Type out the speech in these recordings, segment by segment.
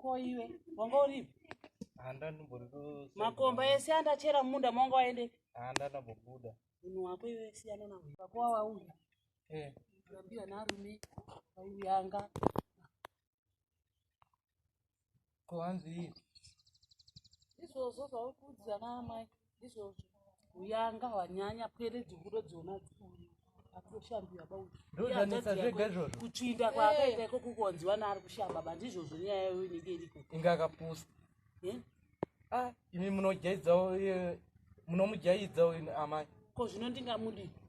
ko iwe wanga uripi makomba ese andachera mumunda maunga waende andanabobuda munhu wako iwe siyana nawo vako wawauya eh. rambira narume waiuyanga ko hanzi izvozvo zvauri kuudzana amai ndizvozvo uyanga hwanyanya pwere dzinguro dzona dzikuru atoshambiwa ba ndozvanetsa zvega izvozvo kutsvinda kwaakaita iko kukonzi vana ari kushamba ba ndizvozvo nyaya yayo inenge iriko inga akapusa eh? ah, imi munojaidzawo eh, munomujaidzawo amai ko zvino ndingamudii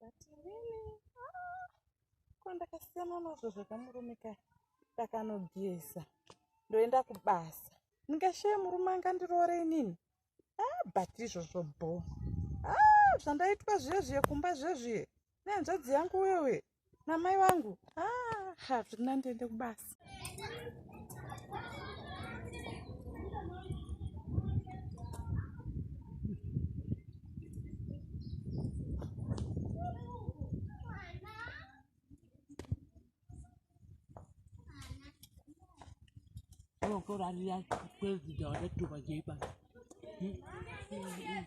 batinini ah, ko ndakasiyana nazvo zvakamurume ka ndakanogeza ndoenda kubasa ndingashaye murume angandiroore inini ah, but izvozvo bho ah, zvandaitwa zviye zviye kumba zviye zviye nehanzvadzi yangu wewe namai vangu ah, hazvina ndiende kubasa Gracias.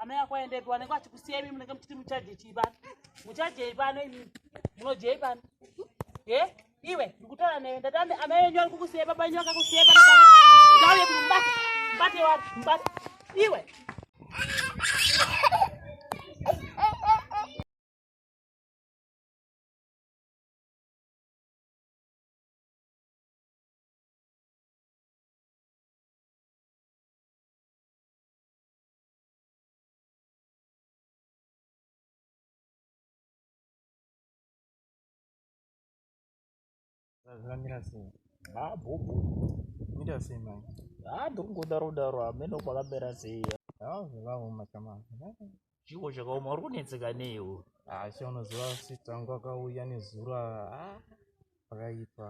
amai ako aendepi wanenge achikusiya imi munenge muchiti muchaje chii pano muchajei pano imi munojei pano e iwe ndikutaura newe ndati amai enyu ari kukusiya baba enyu akakusiya pano pano ndauye kuti mubate mubate wari mubate iwe zvamira sei haa bhobho mira sei mai haa ndiri kungodaro daro hameno kwakamera sei haa zvakaoma chamai chiwo chakaoma uri kunetseka neiwo asi unoziva sitangu akauya nezuro haa pakaipa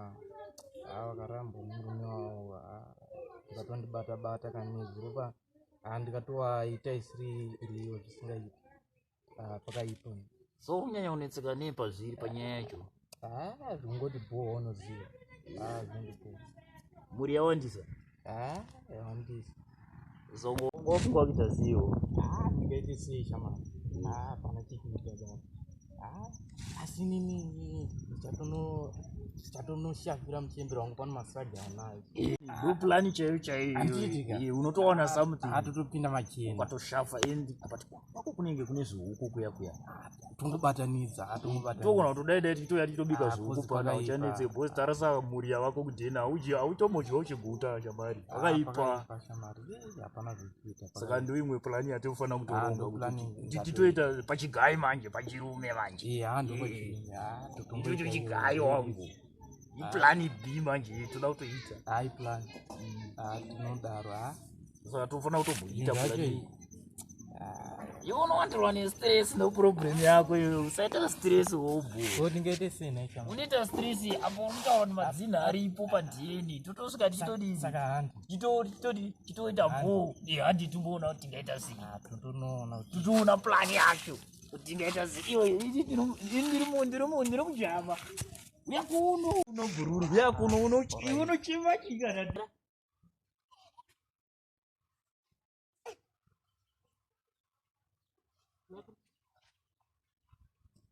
haa vakaramba murume wavo vakatondibata bata kanezviropa haa ndikatovaita isiri iriyo zvisingaiti pakaipa so unyanya unetseka nei pazviri panyaya yacho haa zvingoti bhoo unoziva haa zvingoti bhoo mhuri yawandisa Ah, yawandisa. Zogo ngofika kuita ziwo. Ah, ndikaite sei shamani? Ah, pana chikuita baba. Ah, asi nini ndichatono ndichatonoshakira muchembere wangu pano masage anayo. Do plan chaiyo chaiyo. Handiti ka? Iye unotoona something. Atotopinda machena. Ukatoshafa endi apati kwa. kwako kunenge kune zvihuku kuya kuya tongobatanidza togona kutodai dai tichitouya tichitobika ah, zvihuku pana uchanetse bos tarasa mhuri yavako kudhena automodya uchiguta shamari ah, akaipa saka ndo imwe plani yatinofanira kutoronga ah, titoita pachigai manje pachirume manje ichocho chigai wangu iplani b manje toda kutoita mm. tinodaro saka tofanira kutomboita iwe unowandirwa nestress noproblem yako iyo usaita stress wobhotingaite senaaunoita stress apo unotaura kuti madzina aripo padn totosvika tichitoita bho handi timboona kuti tingaita sei ah, totoona plan yacho kuti tingaita sei iwe ndiri mujama uyakuno unobhururu uyakuno unochima chikana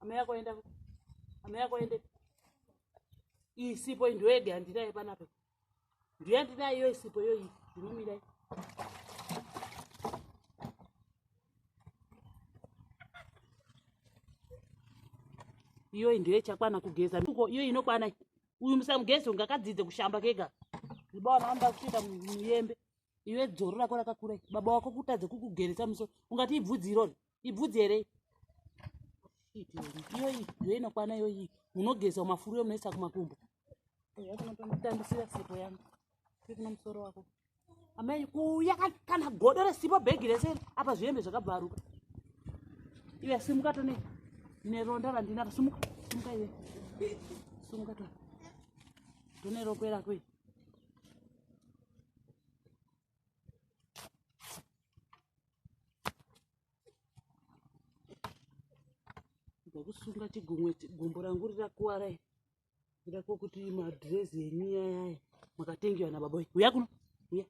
amai ako enda amai ako ende iyi sipo iyi ndoyega yandinayo panapo ndoyandinayo iyo isipo iyo iyi ndinomirai iyoyi ndiyo ichakwana kugeza iyo inokwana uyu musamugeze unge akadzidze kushamba kega baba wana vanoda kutoita muyembe iwe dzoro rako rakakura baba wako kutadze kukugeresa muso ungati ibvudzi irori ibvudzi here iyoyi iyo inokwana iyoyi munogeza mafuru yo munoisa kumakumbo yakutandisira sipo yangu tiri kuno musoro wako amai kuuya kana godo resipo bhegi rese apa zvihembe zvakabvaruka iwe simuka tone neronda randinaro simuka simuka iwe simuka to tone rokwera kwe kusunga chigumwe gumbo rangu rirakuwara ndako kuti madress enyu yayaya makatengewa nababa wenyu uya kuno uya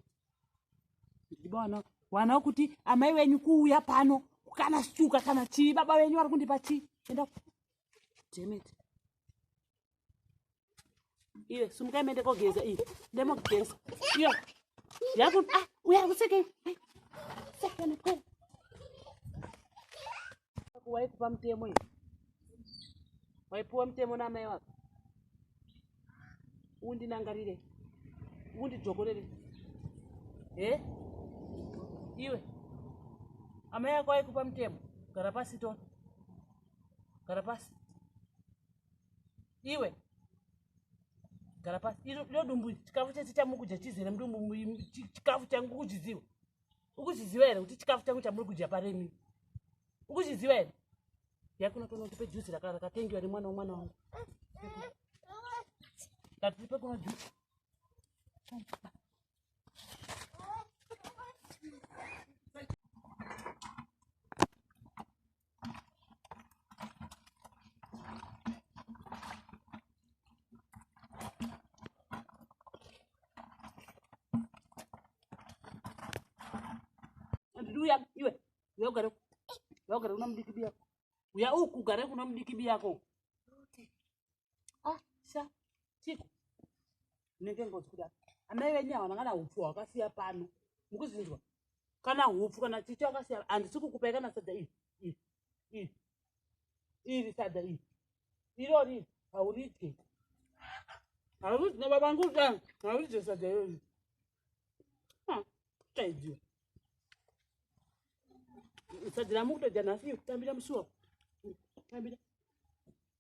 ndiba wana wana kuti amai wenyu kuuya pano kana suka kana chii baba wenyu vari kundipa chii enda demit iye sumukai mende kogeza iyi ndemogeza iyo yaku ah, uya kuseke sekana kwena waikupa mutemo iyi waipiwa mutemo naamai wako undinangarire undidzokorere he iwe amai ako aikupa mutemo gara pasi to gara pasi iwe gara pasi iro dumbu chikafu chese chamukudya chizere mudumbu chikafu changu kuchiziva ukuchiziva here kuti chikafu changu chamuri kudya paremi ukuchiziva here yakunotoona kuti pejuzi rakatengiwa remwana wemwana wangu tatiri pekuno juzi uya iwe uya ugare uya ugare kuna mudiki biyako uya uku ugare kuna mudiki biyako ah sha chiko nenge ngozi kuda amai venyu havana kana upfu hwakasiya pano mukuzinzwa kana hupfu kana chicha wakasiya handisi kukupai kana sadza iri iri iri iri sadza iri irori hauridye hauridye na baba ngu da hauridye sadza irori ah, taidziwa sadza ramukutodya nhasi kutambira musuwa tambira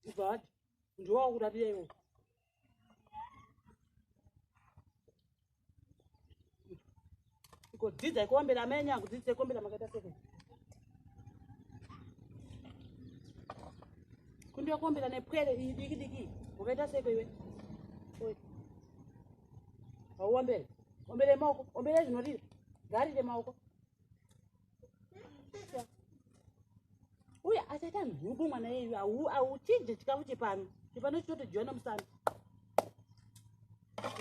kubva ati ndiwo wakuratira iwo kudzidza ikombera amai enyu akudzidzisa ikombera makaita seko kundokombera nepwere iyi diki diki makaita seko iwe hauombere ombere maoko ombere zvinorira ngarire maoko uye achaita nhubu mwana yeyu auchidye chikafu chepano chepano chitotojiwana musana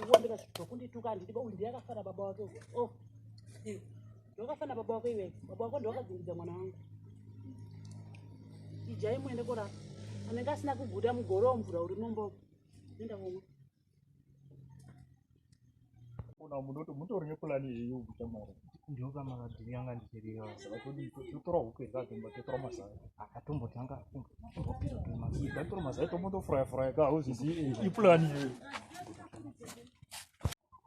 uwambira zvinhu zvokundituka handidi uyu ndiye akafana baba wake o oh. ndokafana baba wako iwe baba wako ndowakadzingidza mwana wangu ijai muende korapa anenge asina kuguda mugoro womvura uri nombo enda komwe Kuna munoto mutori nepulani yeyo kuita mari ndoka makadhiri anga ndichiriyo totora huku here katombo totora mazai akatombo tanga tombopira tori mazai tatora mazai tombotofuraya furaya ka hauzvizivi ipulani yeyo